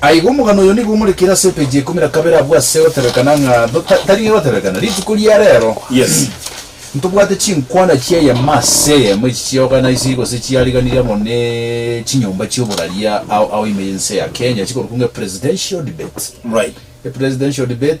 Aiga omogano oyo nigo omorekire ase epeji ya ikomi na kabere abwo ase goteberekana ng'a do ta tari gegoteberekana. Rituko ria rero, Yes. ntobwate chinkwana chi'eyemo ase eyemo echi chi'organisiri gose chiariganirie amo ne chinyomba chi'oboraria ao ao ime y'ense ya Kenya chikorokwa ng'a epresidential debate. Right. Epresidential debate.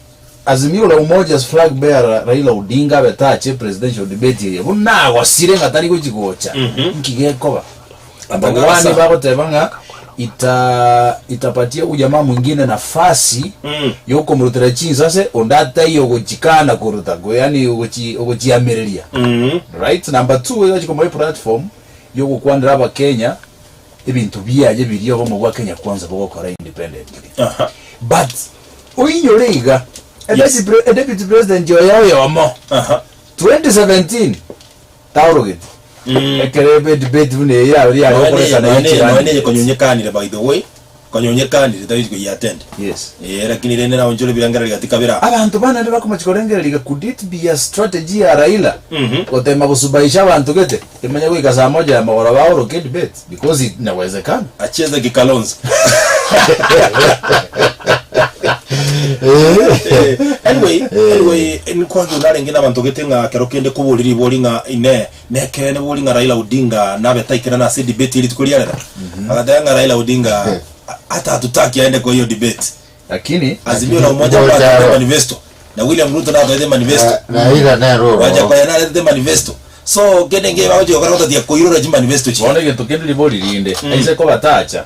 Azimio la Umoja's flag bearer Raila Odinga abe tache presidential debate eye buna agosire ng'a tari gochi gocha. Nki gekoba? Ababwani bagoteba ng'a ita itapatia huyu jamaa mwingine nafasi yokomurutera chinsa ase onde atai ogochikana koruta ko yani ogochi ogochiamereria. Right? Number two, iga chikomoa eplatform yogokwanera abakenya Ebinto biaye biria obomo bwa Kenya Kwanza bogokora independently but oinyore iga a deputy president oye oyomo 2017 taorogeti ekero edebate buna eye yabeire yare okoresana echirani. Konya onyekanire, tagechia koyiattend. Yes. Ee, lakini rende naye onchore ebirengererio gati kabere aa. Abanto bana naende bakomachia korengereria iga, could it be a strategy ya Raila Mhm. goteema gosubaisha abanto gete kimanye goika saa moja ya magoro baoroke edebate because it inawezekana. Acheze ki Kalonzo. Eh, anyway, anyway, Eh. nikwage onarenge nabanto gete ng'a kero kende kobori ribori ng'a inee, Nekeene bori ng'a Raila Odinga nabe taikerana ase edebate ye rituko riarera? Agateba ng'a Raila Odinga atatutaki aende koyia odebate. Lakini Azimio na Umoja mbwatete manifesto, na William Ruto natoete manifesto. Gwancha koyia naretete manifesto. So kende enki bagochia gokora gotatiga koirora chimanifesto chiria. Bono egento kende ribori rinde, aise kobatacha.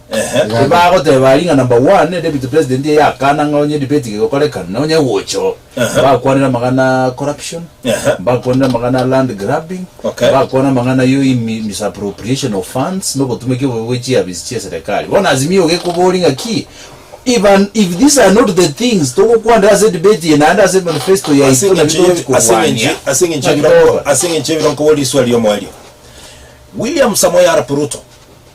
Ehe, Iga iga. bagoteba ring'ana mba one deputy president eye akana ng'a onye debate iga egokorekana na onye gocha oo Ehe. bakwanera amang'ana a corruption Ehe. bakwanera amang'ana a land grabbing Okay. bakwana amang'ana yo imi- misappropriation of funds na obotumeki obobe bwe chiafisi chia eserekari bono azimio iga ekobori ng'a ki Iban, if these are not the things togokwanera ase edebate eye naende ase manifesto yaito naki Aseng'encho ye- togotiki kobwania aseng'encho- aseng'encho Naki ebiro- togokora. aseng'encho ebiro nkobora eriswa ri'omoerio william samoei arap ruto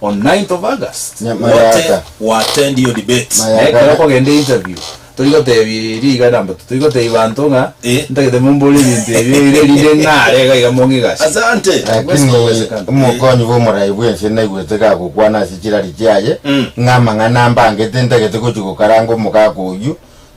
On 9th of August Nya- gote Mayaka. we attend hiyo debate. Mayaka. Na ekero okogenda interview tori gotebia riga nambato tori gotebia banto ng'a Eh. ntagete mombore ebinto ebio ere erinde ng'are iga iga mong'igase Asante. Lakini Bwesi bogwesekana. omokonyi bw'omoraai bwense naigwete gagokwana ase chirari chiaye, Mm. ng'a amang'ana ambangete ntagete gochia gokaranga omogaka oyio,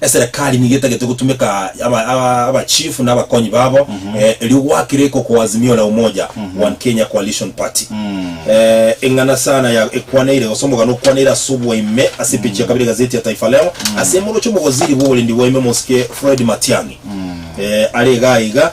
Eserekari nigo etagete gotumeka abachifu na abakonyi babo erio gwakire iko kwa Azimio la Umoja One Kenya Coalition Party. Eng'ana sana ya ekwaneire gose omogano okwaneire ase obwaime ase epeji ya kabere egazeti ya Taifa Leo ase moroche omogoziri bw'oborendi bwaime Mosike Fred Matiang'i are igaa iga.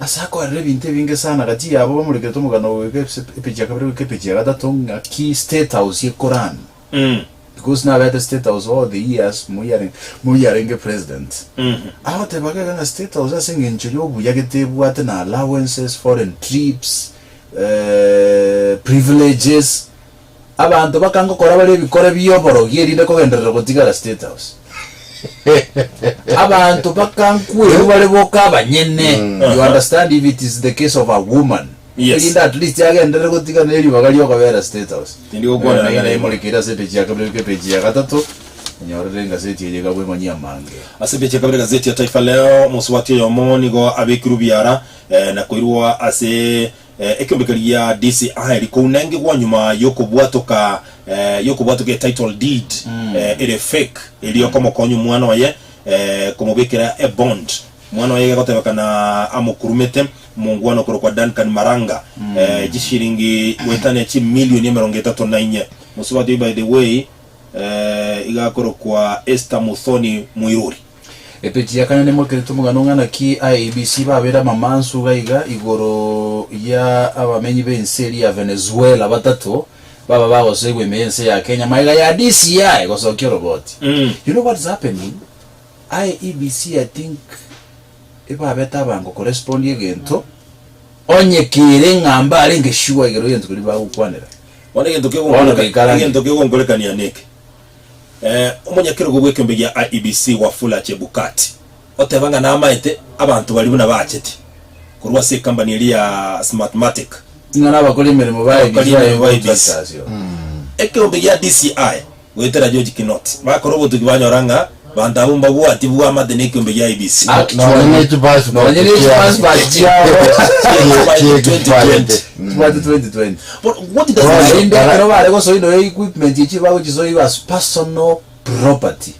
Ase akorera ebinto ebinge sana, agachia abo bamorekeretwe omogano oyo goika epeji ya kabere goika epeji ya gatato ng'aki state house ye Quran because nabeete state house all the years moi are moi arenge president agoteba gaiga ng'a state house ase eng'encho yobuya gete ebwate na allowances, foreign trips, privileges Abanto bakangokora bare ebikore bi'oborogi erinde kogenderera gotigara State House. Abanto bakankweru bare boka abanyene, you understand if it is the case of a woman, Yes. erinde at least agenderere gotigana neribaga ri'okobera State House. Tindi gokwana Ng'ina naiga. imorekeire ase epeji ya kabere goika epeji ya gatato, onyorere engaseti eye iga bw'emanyie amange. Ase epeji ya kabere gazeti ya Taifa Leo, mosubati oyomo nigo abekirwe biara eh, na koirwa ase Ekeombe keria DCI rikounengigwa nyuma y'okobwatoka y'okobwatoka e title deed ere fake eria okomokonya omwana oye komobekera e bond. Omwana oye egegotebekana amokurumete omongwana okorokwa Duncan Maranga chishilingi goeta ne chimilioni emerongo etato na inye. Mosubati oye by the way iga akorokwa Esther Muthoni Mwiruri. Epeji ya kane nemokerete omogano ng'a naki IEBC babeire amamansu iga iga igoro ya abamenyi b'ense eria ya Venezuela batato baba bagosoigwa ime y'ense ya Kenya magega ya DCI gosokia oroboti. You know what's happening? IEBC I think ebabete abango korespondi egento onye kere ng'a mbarenge sure igoro y'egento keria bagokwanera. Bono egento Bono kegonkorekania, goikarange. egento kegonkorekania neke. Omonyakerogo bw'ekeombe gia IEBC Wafula Chebukati oteba ng'a namaete abanto baria buna bacheti korwa ase ekambani eria ya Smartmatic Ng'a nabakori emeremo ba abakori IEBC emeremo ba bayegochwa IEBC. chasio. Ekeombe gia DCI goetera George Kinoti bakora obotuki banyora ng'a Banto abwo mbabwati bwamate nekiombe gia IEBC. Nonya ne chipasipati chiabo chi'ekibaji 2020. Korende ekero bare gosoinora equipment echio bagochisoiwa as personal property.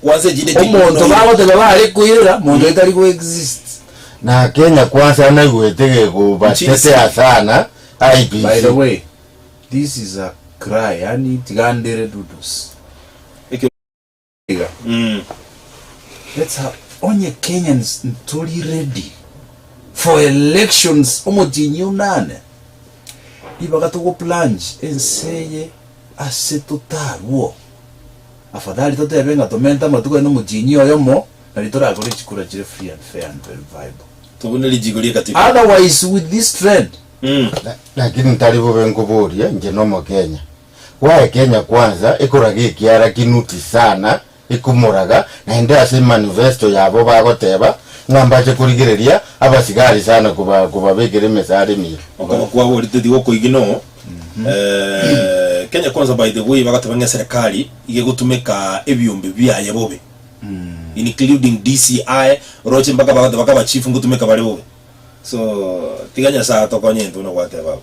Omonto bagoteba bare koirera monto etari go exist. Na Kenya Kwanza naigwete gekobatete asana IEBC. By the way, this is a cry yaani tiga ndere dudusi. iga. Mm. That's how onye Kenyans ntori ready for elections omotinyi onane ribaga togo plunge ense eye ase totarwo afadhali totebe ng'a tomente amatuko aye nomotinyi oyomo nari torakore chikura chire free and fair and verifiable Tobune richiiko ri'ekatiba. otherwise with this trend Mm. Lakini ntari bobe nkoboria inche nomokenya Gwaekenya kwansa ekoraga ekiara kinuti sana ekomoraga, naende ase emanifesto yabo bagoteba ng'a mbache korigereria abasigari sana koba kobabekera emesara emiya. Okoro kwaborete tigokoigi no Kenya kwansa by the way bagoteba ng'a eserekari iga egotumeka ebiombe biaye bobe including DCI oroche mpaka bagoteba ka ba chief ngotumeka bare bobe so tiga nyasae atokonye intwe buna gwateba abwo.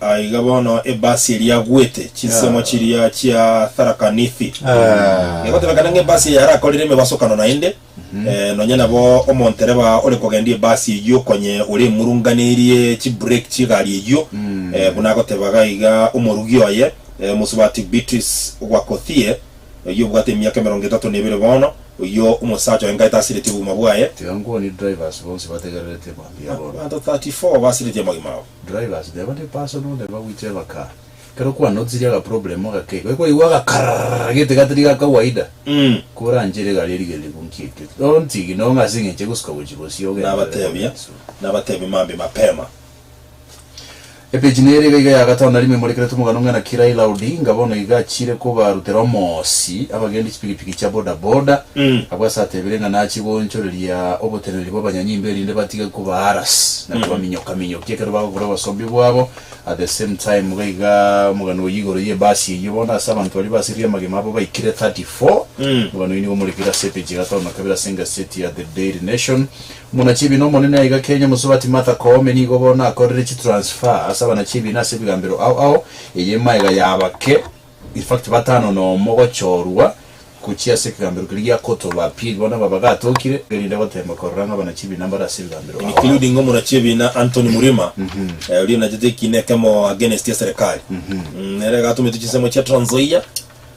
Aiga bono ebasi eria agwete chinsemo chiria chia Tharakanithi egotebekana ng'a ebasi eye yarakorire emebasokano naende, nonya nabo omontereba ore kogendia ebasi eyio okonye ore emurunganerie chibureki chi'egari eyio, buna agotebaga iga omorugi oye, Omosubati Beatrice Wakothie. Oyio obwate emiaka emerongo etato na ebere bono, oyio omosacha oenga etasiretie obogima bwaye. Tiga nkwonie drivers bonsi bategererete mambia aroro. Abanto 34 basiretie amagima abo. Drivers teba ndi personal teba gwicha ebakari ekero kwanotsirie aga problem agake igo ekoigwa agakarrrrr getiga tiri ga kawaida koranchera egari erigereriku nkiekio don't ignore ng'a asing'enche gosuka gochia gosio ogende ore Nabatebia, comments. nabatebia mambia mapema. Epeji nere iga iga ya gatano na rimo emorekeretwe omogani omwe ng'ina ki Raila Odinga bono iga achiire kobarutera omoosi abagendi chipikipiki chia boda boda abwo ase atebire ng'a nachie goonchoreria oboteneneri bw'abanyanyimbo erinde batige kobaharas na kobaminyoka minyokia ekero bagokora obosombi bwabo at the same time iga iga omogani oyio igoro y'ebasi eyio bono ase abanto baria basiririe amagima abo baikire 34 omogani oyio nigo omorekeire ase epeji ya gatano na kabere ase engaseti ya The Daily Nation. Muna chibiina Omonene aiga kenya Mosubati Martha Koome nigo bono akorire chi transfer ase abanachibiina ase ebigambero ao ao eye maega y'abake in fact batano nomo gochorwa gochia ase ekegambero keria gia Court of Appeal bono aba bagatokire erinde goteema korora ng'a abanachibiina mbare ase ebigambero ao ao. Including omonachibiina Anthony Murima oria onachete ekiina ekemo against eserekari. Nere egatometwe chinsemo chia Trans Nzoia.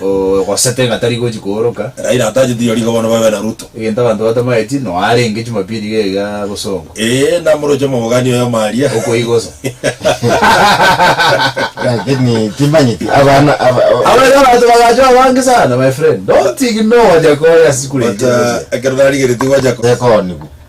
Ogosete ng'a tari gochi kooroka. Raila atacheti iyo rigo bono babe na Ruto. Egento abanto batamaeti, noa arenge Jumapili iga iga gosongwa. Ee, namoroche omobogani oyo omaria. Okoigosa. Lakini timanyeti abana aba. Abana abanto bagacha abange sana my friend don't ignore Wajakoya sikureti But ekero narigeretie Wajakoya. Ekonigu.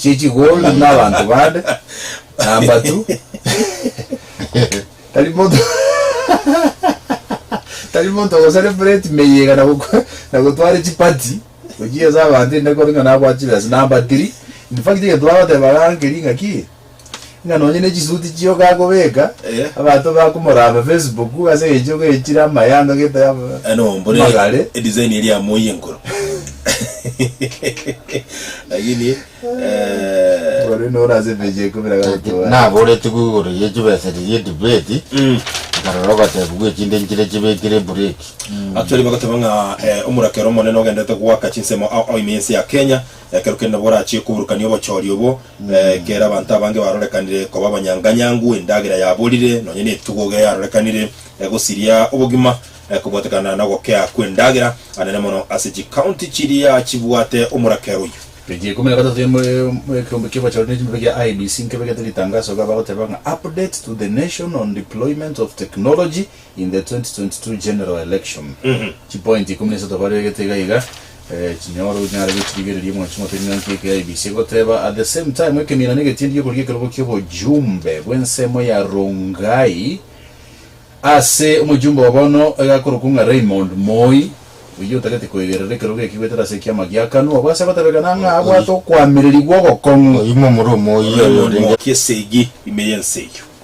chie chigombi na abanto bande, na amatu, tari monto tari monto ogosara epleti meyia iga na gokwa- na gotwara chipati gochia ase abanto, inde kore ng'a nabwate chibesa, na ambatiri. In fact egento bagoteba iga nkeri ng'aki, Ng'a nonye ne chisuti chio gakobeka, Eh. abanto bakomoraba Facebook ase eng'encho gechire amayanga gete am- Eh, no, mbore amagare. edisaini eria ya moi enkoro lakini eh, Ore nore ase page ya ikomi na gatatu Lakini bare. naboretigwe igoro ye chibesa riria edebate mm. nkarora ogatebigwa echinde nchire chibekire ebureki actually bagoteba ng'a eh, omorakero omonene ogendete goaka chinsemo ao ao ime ense ya kenya Ekero kende nabwo orachie koburukania obochori obo, ekero abanto abange barorekanire koba abanyanganyangu, endagera yaborire, nonya netugo iga yarorekanire egosiria obogima kobwatekana nogokea kw'endagera anene mono ase chikaunti chiria chibwate omorakero oyio. Peji ya ikomi na gatato ya ekeombe ki'obochori ne chimbe gia IEBC nkebegete ritangaso iga bagoteba ng'a Update to the Nation on Deployment of Technology In the 2022 general election, chipointi ikomi na isato baregete iga iga chinyore onyare gochirigereria omochi omotebi ng'anki eke ya IEBC egoteba. At the same time, ekeminana negetindi gekorugia ekerogo ki'obojumbe bw'ensemo ya Rongai ase omojumbe wa bono oigakorokwa ng'a Raymond Moi, oyio otagete koegerera ekerogo eki goetera ase ekiama gia Kanu, abwo ase agotebekana ng'a abwate okoamererigwa ogokong'u. Oimo omorwa omoyio oyorenge. Raymond Moi, Esegi ime y'ense eyio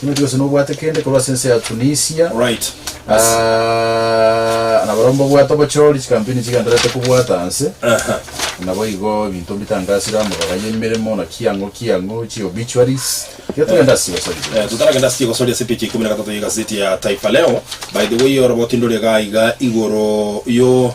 Timothy, gose nobwate kende korwa ase ense ya Tunisia. Right. Yes. Ah, na barabwo mbabwate obochori, chikampuni chigendererete kobwata anse. Aha. Nabo igo ebinto mbitangasire amabara y'emeremo, naki ang'o ki ang'o, chi obituaries. Iga togende ase chigosori Eh, chire. totaragenda ase chigosori ase page ya ikomi na gatato ya egazeti ya Taifa Leo. By the way, orobo tindore iga iga igoro yo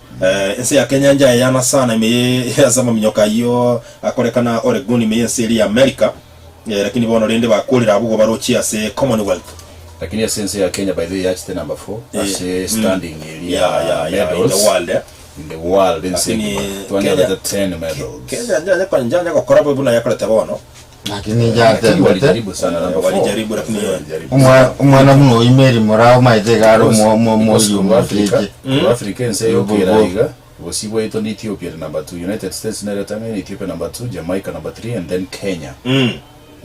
Ense ya Kenya enchaya eyana sana, ime ye ase amaminyoka ayio akorekana Oregon, ime y'ense eria y'America, lakini bono rende bakorire abwo barochie ase Commonwealth. Lakini ase ense ya Kenya by the way yachete number four ase standing eria ya medals in the world ense engima, twanyorete ten medals. Kenya njanya gokora buna yakorete bono. Lakini inche natebete, omwa- omwana buna oyo Mary morao maete iga are omo- omo- omoiri omoteke. Africa ense Bobo. yokera iga bosio bwaito ne Ethiopia ere number two United States nere etang'ani Ethiopia number two Jamaica number three and then Kenya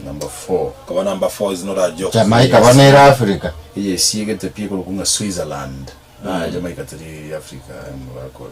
number four Koba number four is not a joke. Jamaica bono ere Africa. eye esiegete pi ekorokwa ng'a Switzerland ah Jamaica teri Africa aye mobakora.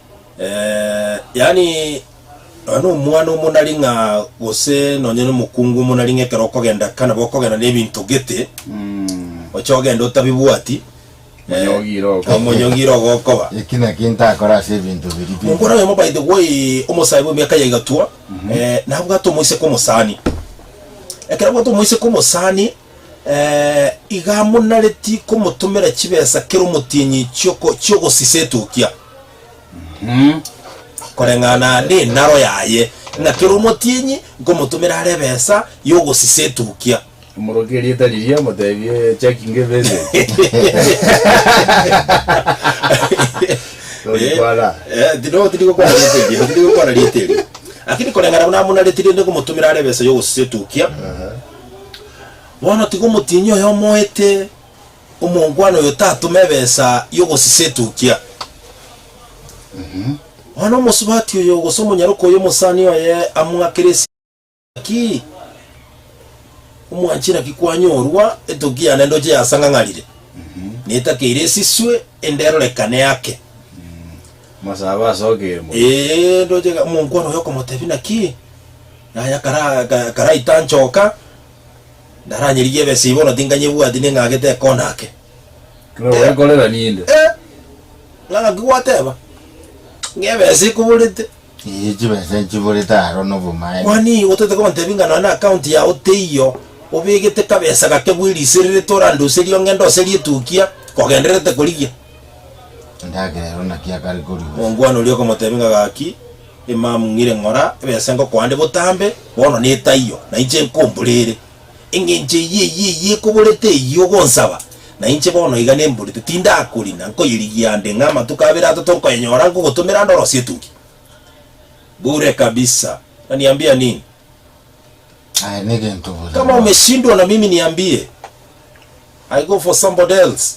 Ee, yaani nonya nomwana omonari ng'a gose nonya nomokungu omonari ng'a ekero okogenda kana bokogenda nebinto gete oche ogende otabibwati Manya eh, ogira ogokoba. omanya ogira ogokoba Eki naki ntakore ase ebinto biria pi- Omokora oyomo by the way omosae bw'emiaka ya igatwa eh, nabwate omoiseke omosani ekero abwate omoiseke omosani iga monareti komotomera chibesa kera omotienyi chi'oko- chi'ogosisa etukia, koreng'ana nenaro yaye, ng'a kera omotienyi nkomotomera are ebesa y'ogosisa etukia. Omoroke erieta riria motebie checking a message. Tori kwana. Eh, tino tiri gokwana rieta erio, tiri gokwana rieta erio. Lakini koreng'ana buna monareti rende nkomotomera are ebesa y'ogosisa etukia, Bono tiga omotienyi oye omoete omongwana oyo tatome ebesa y'ogosisa etukia. Bono omosubati oyo, gose omonyaroke oyo omosani oye among'akere esegi, Naki omwanchera ki kwanyorwa? Etukia yane ndoche yasang'ang'arire, netakeire esiswe, ende erorekane ake. Amasabo ase okeemwa. Ee, ndoche omonkwana oyo okomotebia, Naki naye akaraita anchoka, ndaranyerigie ebesa bono tinganyebwati ning'agete ekona ake. Ekero bwekorera ninde. Ee, ng'aki gwateba? Ng'a ebesa ekoborete? Ee, chibesa echiborete aro nobomaene. Kwani otete kontebia ng'a nonya na account yao teiyo obegete kabesa gake bw'erisererete orandoserie ong'ende oserie etukia kogendererete korigia? Endagera ero naki akare korigia? Omongwana oria okamotebia ng'a, Gaki, emam ng'ire ng'ora ebesa ngokoande botambe, bono netaiyo, na inche nkombore ere. Engencho eyio eyio eyio ekoborete eyio ogonsaba, na inche bono iga nemborete, tindakorina, nkoyerigia ande ng'a amatuko abere atato nkoyenyora nkogotomera ande orosie etugi. Bure kabisa. Unaniambia nini? Aye negento bore Kama bono. umeshindwa na mimi niambie. I go for somebody else.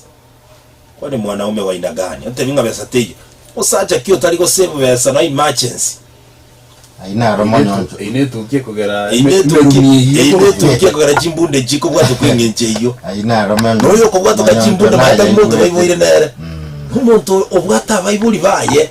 Kwani mwanaume wa aina gani? Ontebie ng'a besa teiyo. Osacha ki otari gosave besa no emergency? Ayio naro omonyocho. Eyio netukia kogera Eyio eme- netukia- emerumi eyio. eyio netukia kogera chimbunda echi kobwatwa kweng'encha eyio. Ayio naro omonyo- Noyo okobwatwa omonyocho chimbunda naye mata monto baiboire aigurete. nere. Omonto obwate abaibori baye.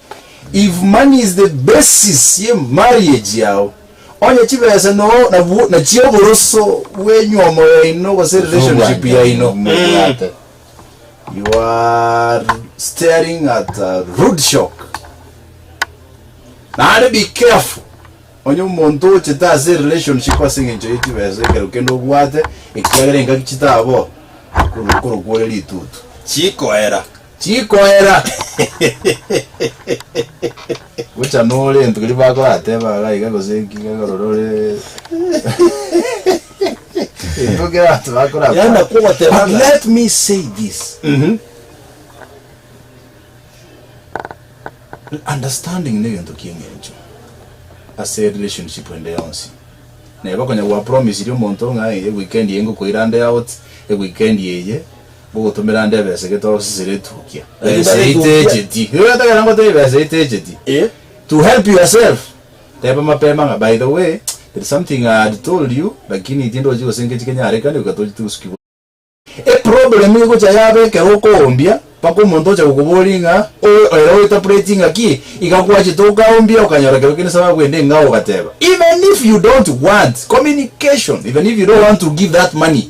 If money is the basis ye marriage yao, onye chibesa no nabwo nachio oboroso bw'enywomo yaino gose relationship yaino, Mobwate. you are staring at a rude shock. Naende be careful, onye omonto ochete ase relationship ase eng'encho ye chibesa ekero kende obwate, ekiagera engaki chitabora, akorokwa ore ritutu. Chikoera. Chikoera. Gocha nore into keria bakorateba iga iga gose inki iga iga rora ore into kera abanto bakorakora. Yaani nakwo ogoteba But ng'a- let me say this. Mhm. Understanding negento kieng'encho ase relationship ende yonsi. Neba konya gwapromisiri omonto ng'a eye weekend eye ngokoira ande out, eweekend eye Ngogotomera nde ebesa egete osisire etukia Ebesa eye itecheti. Igo ogetagera ngoteba ebesa itecheti. To help yourself, teba mapema ng'a, By the way, there is something I had told you, lakini tindochi gose ngechi kenyarekane goika toche tigosukigwa. Eproblem egocha yaba ekero okoombia mpaka omonto oche gokoboria ng'a, Owe ere ointerpreting ng'aki? Iga gwachete okaombia okanyora ekero kende esababu ende ng'a ogateba. Even if you don't want communication, even if you don't want to give that money,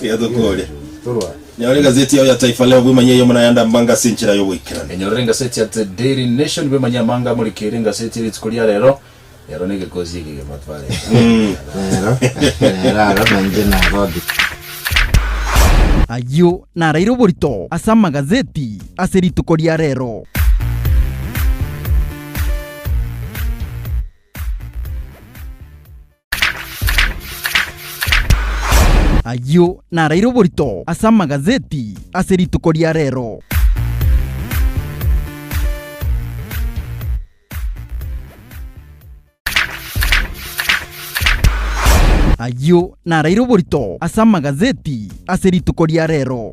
Buya tokore. Nyora egazeti yao ya Taifa Leo bwemanye eyemo na ayande ambango ase enchera y'ogoikerania. Enyorere engaseti ya The Daily Nation bwemanye amanga amorikeire engaseti rituko ria rero. Ero negekosi eke egema twareta. Rero aro nainche nagothiria. Ayio naraire oborito ase amagazeti ase rituko ria rero. Ayio naraire oborito ase amagazeti ase rituko ria rero. Ayio naraire oborito ase amagazeti ase rituko ria rero.